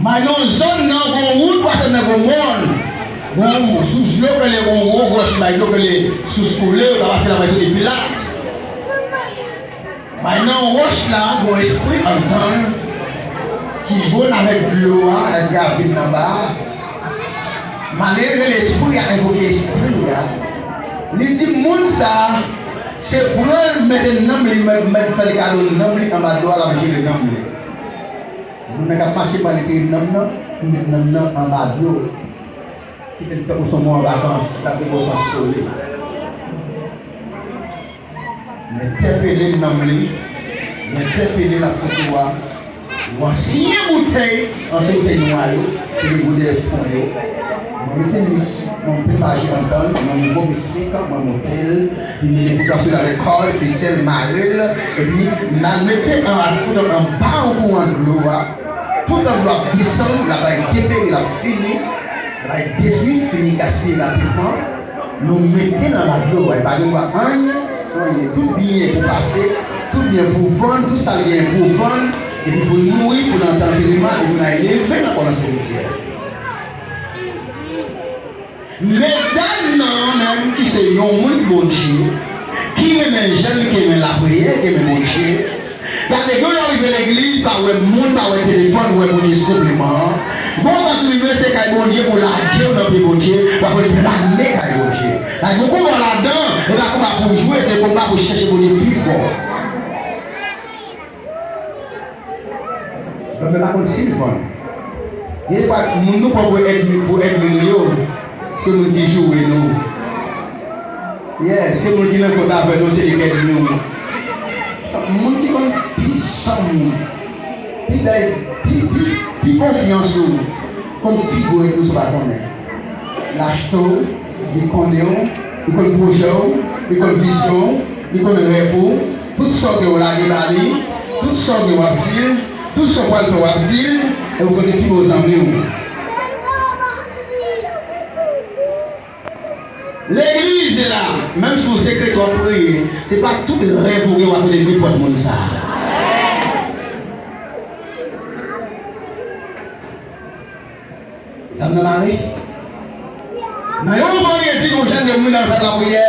Mayon zòn nan gon wout pase nan gon mòn. Gon yon sous dlo k rele yon wo gwo chimay dlo k rele sous koule yo ka pase la mayoSote Pilat bay nan yon wòch la gon espri antan l ki jwenn avèk dlo a nan gravin nan ba a. Male rele espri a envoke espri a li di moun sa a Se pranl mete nanm li mwen mèt fèl kado nanm li anba dwa lap jere nanm li moun nan kap mache pran retire nanm nan pou met nanm nan anba do kitel tankou son moun an vakans lap gen bon sans sole mwen tèpele nanm li mwen tèpele lap fout ou a. Mwa siye boutèy an se boutèy nwa yo ki gen gwo dèyè fon yo mwen mete mis mwen pil maji anndanl mwen nouvo misik mwen motel pi mete fout an sou l avèk kòd fisèl marel epi mal mete an ak fout an anba yon kouran dlo a toutan dlo ap desann la bay depere lap fini la bay detwi fini gaspiye rapidman. Nou mete nan radio a e pa gen dwa anyen, anyen, tout byen pou pase, tout byen pou vann, tout sa l genyen pou vann, epi pou l mouri, pou l antre antereman e pou n al leve nan kò nan simityè. Medam nan menm ki se yon moun Bondye, ki renmen jèn, ki renmen lapriyè, ki renmen Bondye, Dat nèg yo yo rive legliz pa wè moun pa wè telefòn wè moun is konpliman an bon ou pat rive se kay Bondye pou lagew nan pye Bondye wap reklame kay Bondye la gen konba ladan e pa konba pou jwe se konba pou chèche Bondye pi fò. Mwen pa konn sim konn. Gen de fwa moun nou pran pou èdmi nou yo se moun ki joure nou. Yeah se moun ki nan kont avè nou se lekè di nou moun ki konn pi san moun pi bèl pi pi pi konfyans ou konn pi gwo e plis ou pa konnen lachte w li konnen w li konn pwojè w li konn vizyon w li konn rèv ou tout sa w gen w lage ba li tout sa w gen w ap di l tout sa w pral fè w ap di l e ou konnen ki bon zanmi w. Legliz e la menm si ou se kretyen wap priye se pa tout rèv ou gen wap rele nenpòt moun sa dam nan mare nan yon vandredi nou jèn de mouri nan yon sal lapriyè.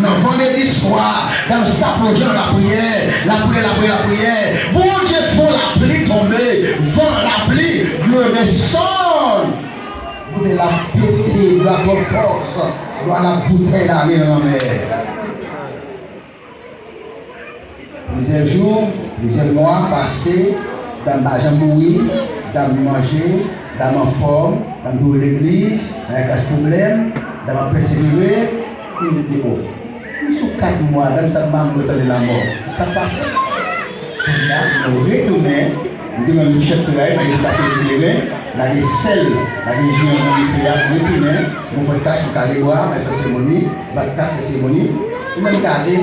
Nan vandredi swa dam sapojan lapriyè lapriyè lapriyè lapriyè Bondye fon lapli tonbe van lapli dlo desann Boude la pete dwa twòp fòs dwa la boutèy lale nan lanmè. Plizyè jou, plizyè mwa pase, dam pa janm mouri, dam manje, dam anfòm, dam toujou legliz, nan enpas pwoblèm, dam ap pèsevere. Epi li di, O, m sou kat mwa, dam sa pa mouri tande lamò. Sa k pase? Kounye a, nou retounen, m te rann nou chèf feray, fè nou kache ti kleren, lage sèl, lage ji an nan dife a, retounen, nou fè tach, nou kale bwa, nou fè seremoni, bat kat, fè seremoni. Ou menm gade!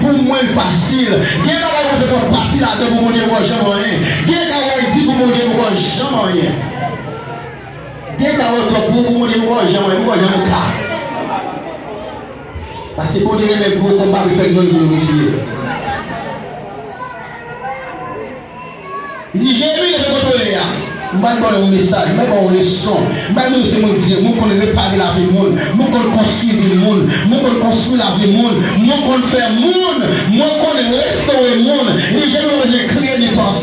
Pou mwen l fasil. Gen bagay kote fòk pati ladan pou Bondye poko janm anyen. Gen ka wè di pou Bondye poko janm anyen. Gen ka wè twòp gwo pou Bondye poko janm anyen, poko janm ka. Paske Bondye renmen gwo konba pou l fè grann glorifye. Li veye nou depi kote w ye a. M pa vin ba w yon mesaj, m vin ba w yon leson. M bay moun yo se moun Bdye. Moun konn repare lavi moun. Moun konn konstwi vi moun. Moun konn konstwi lavi moun. Moun konn fè moun. Moun konn restore moun. Li veye nou pa bezwen kriye ni panse.